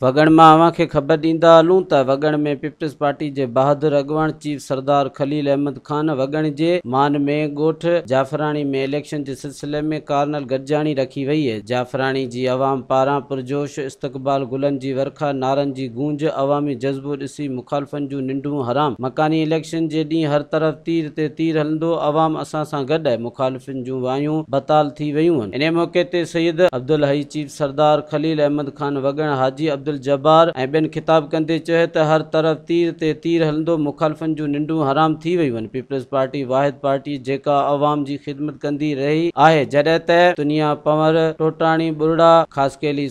وڳڻ مان اوهان کي خبر ڏيندا هلون ته وڳڻ ۾ پيپلز پارٽي جي بهادر اڳواڻ چيف سردار خليل احمد خان وڳڻ جي مان ۾ ڳوٺ جعفراڻي ۾ اليڪشن جي سلسلي ۾ ڪارنل گڏجاڻي رکي وئي هئي جعفراڻي جي عوام پاران پرجوش استقبال گلن جي ورکا نعرن جي گونج عوامي جذبو ڏسي مخالفن جون ننڊون حرام. مڪاني اليڪشن جي ڏينهن هر طرف تير تي تير هلندو، عوام اسان سان گڏ آهي، مخالفن جون وايون بتال ٿي ويون هن. انهيء موقعي تي سيد عبدالحئي چيف سردار، خليل احمد خان وڳڻ، حاجي عبدالجبار ۽ ٻين خطاب ڪندي چيو ته هر طرف تير تي تير هلندو، مخالفن جون ننڊون حرام ٿي ويون هن، پيپلز پارٽي واحد پارٽي جيڪا عوام جي خدمت ڪندي رهي آهي جڏهن ته تنيا پنور، ٽوٽاڻي ٻرڙا، خاصخيلي،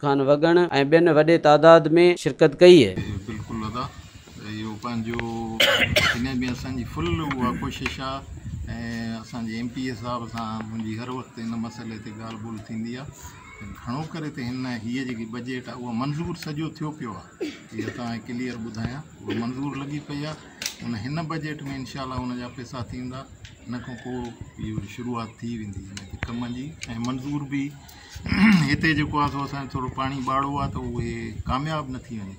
خان وڳڻ ۽ ٻين وڏي تعداد ۾ شرڪت ڪئي. بلڪل ادا اهو پنهنجو جنهن به اسان جي فل اها ڪوشش آ ۽ اسان جي ايم پي اي صاحب سان منهنجي هر وقت ان مسئلي تي ڳالهه ٻولهه ٿيندي آ ته گهڻو ڪري ته هن هيء جيڪي بجيٽ آ اهو منظور سڄو ٿيو پيو آ اها توهان کي ڪليئر ٻڌايان اهو منظور لڳي پئي آ ان هن بجيٽ ۾ انشاء الله ان جا پئسا ٿيندا ان کان پوء اهو شروعات ٿي ويندي ان جي ڪم جي ۽ منظور به هتي جيڪو آهي سو اسان جو ٿورو پاڻي ٻاڙو آهي ته اهي ڪامياب نه ٿي وڃي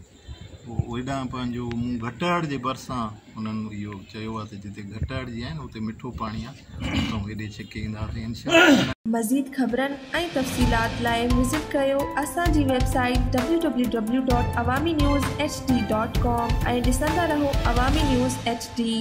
پوء هيڏانهن پنهنجو مون گهٽاڙ جي ڀرسان انهن اهو چيو آهي ته جتي گهٽاڙ جي آهن اتي مٺو پاڻي آهي اسان هيڏي ڇڪي اينداسين انشاءالله مزيد خبرن ۽ تفصيلات لاء وزٽ ڪيو اسان جي website www.awaminews. hd. com ۽ ڏسندا رهو عوامي نيوز ايڇ ڊي.